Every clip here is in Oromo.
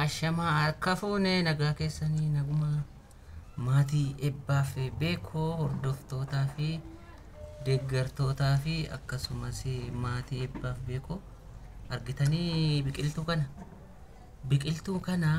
Ashamaa harka fuune nagaa keessanii naguma maatii ebbaa fi beekoo hordoftootaa fi deeggartootaa fi akkasumas maatii ebbaa fi beekoo argitanii biqiltuu kana biqiltuu kana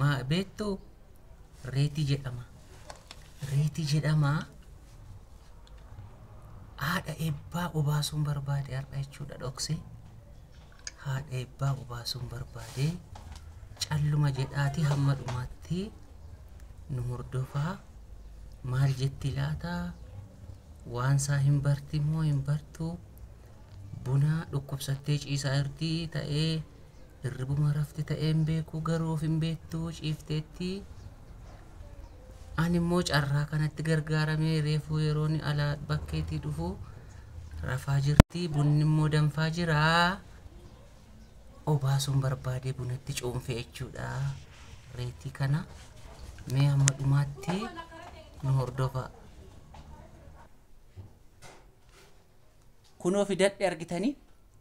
ma- beektuu Reeti jedhama. Reeti jedhama. Haadha eebbaa obaasuun barbaade har'a jechuudha dhokse. Haadha eebbaa obaasuun barbaade calluma jedhaati hamma dhumaatti nu hordofaa maal jetti laata waan isaa hin barti moo hin bartu buna dhukkubsattee ciisaa irti ta'ee Hirribuma rafte ta'een beeku garuu of hin beektu ciifteetti. Ani immoo carraa kanatti gargaaramee reefuu yeroon alaa bakkeetii dhufu rafaa jirti bunni immoo danfaa jira. Obaasuun barbaadee bunatti cuunfe jechuudha reetii kana. Mee hamma dhumaatti nu hordofa. Kunoo fidadhe argitanii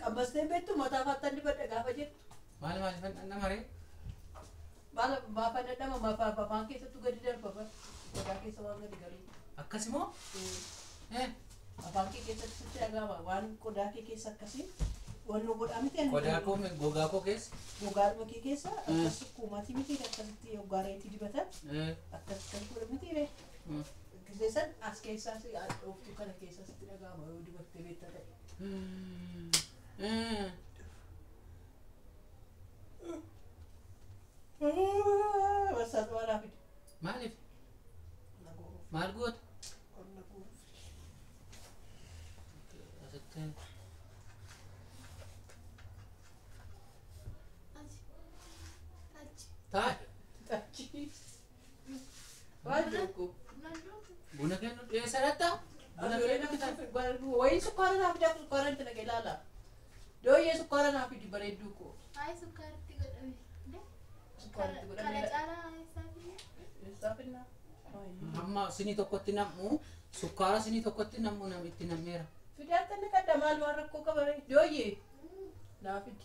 Qabbastee hin beektu mataa faattan dibadha gaafa jettu. Maal maal ifan dhandhama ree? Maal maafa dadhama maafa afaan keessattuu gadi darba bar. Gogaa keessa waan gadi galuu. Akkasi moo? Eh, Afaan kee keessatti sitti dhaga'ama waan qodaa kee keessa akkasii waan nu godhaa miti ani. Qodaa koo mi- gogaa koo keessa? Gogaa dhuma kee keessa akkas kuumatii miti akkasitti hoggaa reetii dibatan Eh, akkas kan godha miti ree. mm. Gisee san as keessaas hadhooftuu kana keessaa sitti dhaga'ama yoo dibattee beekta ta'e. Barsaa xawaa naa fide. Maaliif? Na goruuf. Maal goota? Ol na goruuf. Asitti Achi. Achi. taa'e. Achi. Buna kennu dhiyeessa latta? Buna kennu dhiyeessa. Wayii sukkaara naaf fidaa sukkaara itti naqee ilaala. Dooyyee sukkaara naaf fidi bareedduu koo. Hayi sukkaaritti godhame. Sukkaara itti godhame. Kana caalaa isaafi. Eessaa finnaa? Amma sinii tokkotti nam'u sukkaara sinii tokkotti nam'u nam itti nam'eera. Fidaatti inni qadda maal waan rakkoo qabaree? Dooyyee naaf fidi.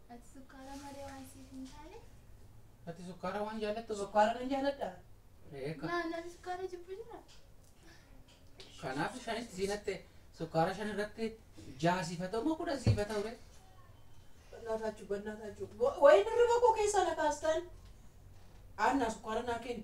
Ati sukkaara malee waan siif hin taane. Ati sukkaara waan jaallattu Sukkaara nan jaalladha. Eeka. Naa namni sukkaara jibbu jira. Kanaaf shanitti siinatte sukkaara shan irratti jaha siif haa ta'u moo kudhan siif haa ta'u ree? Bannaa taachuu bannaa taachuu. Wa- Wayiin hirriba koo keessaa na kaastan. Aanna sukkaara naa kenni.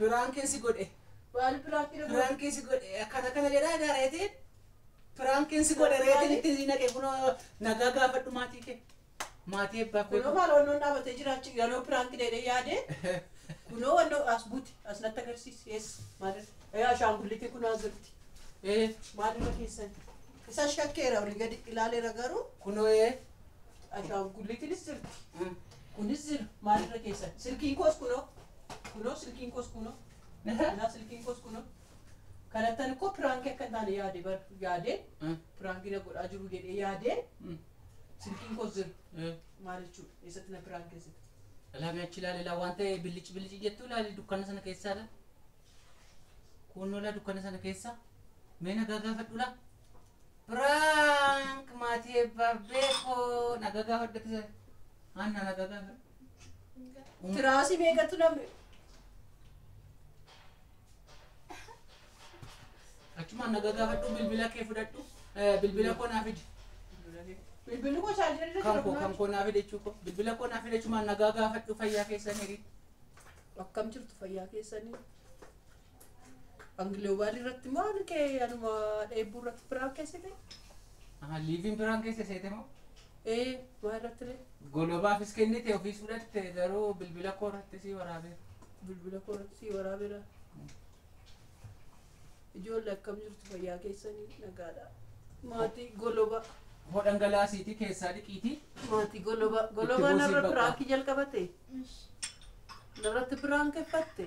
Biraan keessi godhe. Maal biraaf hidhamu? Biraan keessi godhe. Akkana kana jedhaa egaa reetiin. Biraan keessi godhe reetiin itti naqe kunoo nagaa gaafadhu maatii kee. Maatii ebbaa Kunoo kootu. maal wannoon dhaabatee jiraachu yanoo piraank deedhee yaadee kunoo wannoo as buti as natti agarsiisi ees maal ee ashaangullitii kunoo as jirti Ee maal irra keessan isa shakkeera olii gadi ilaaleera garuu kunoo ee. ashaangullitiinis jirti Mm. kunis jira maal irra keessan silkiin koos kunoo kunoo silkiin koos kunoo kunaa silkiin koos kunoo Kanattan koo piraanki akka hin taane yaade bar yaadee Eh. piraanki na godhaa jiru jedhee yaadee Mm. silkiin koo zir Eh. maal jechuudha eessatti na piraankeessite. Ilaami achi ilaali ilaa waan ta'e billici billici jettu ilaali dukkana sana keessaa ilaa. Kuunnoo ilaa dukkana sana keessaa. Mee nagaa gaafadhu ilaa. Piraank maatii eebbaa beekoo nagaa gaafadhu akka sana. Haannaa nagaa gaafadhu. Tiraasii meeqatu namni Achumaan na gagaafadhu bilbila kee fudhadhu eh, bilbila koo naa fidi. Bilbilli koo chaarjii irra Kan koo kan koo naa fide jechuu koo bilbila koo naa fide achumaan na gagaafadhu fayyaa keessan hiri. Akkam jirtu fayyaa keessanii? Angiloobaal irratti maal kee anuma dheebbuu irratti biraa keessite? Aha liiviin biraan keessa seete moo? Ee, maa irratti ree? Golobaafis kennite ofiis fudhatte garuu bilbila koo irratti sii waraabeera. Bilbila koo irratti sii waraabeera. Ijoollee akkam jirtu fayyaa keessanii nagaadha. Maatii goloba. Hoo dhangalaasiitii keessaa dhiqiitii. Maatii goloba. Golobaa narra piraakii jalqabate. Narratti piraank effatte.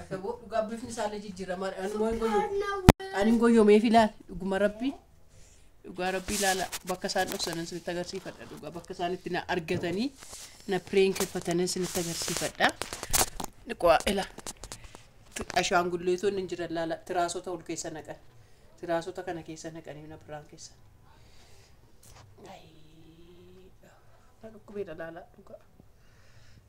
Addaboo dhugaa bifni isaallee jijjiiramaadha. Ani immoo hin goyyoomu. Ani hin goyyoomeef ilaali. Dhuguma rabbii. Dhugaa rabbii ilaala. Bakka isaan dhoksanan isinitti agarsiifadha. Dhugaa bakka isaan itti na argatanii na pireenkeffatanan isinitti agarsiifadha. Dhiqoo ilaa. Ashaangulleetonni hin jiran laala. Tiraasota ol keessa naqan. Tiraasota kana keessa naqanii na biraan keessa. Ayii. Na dhukkubeedha laala dhugaa.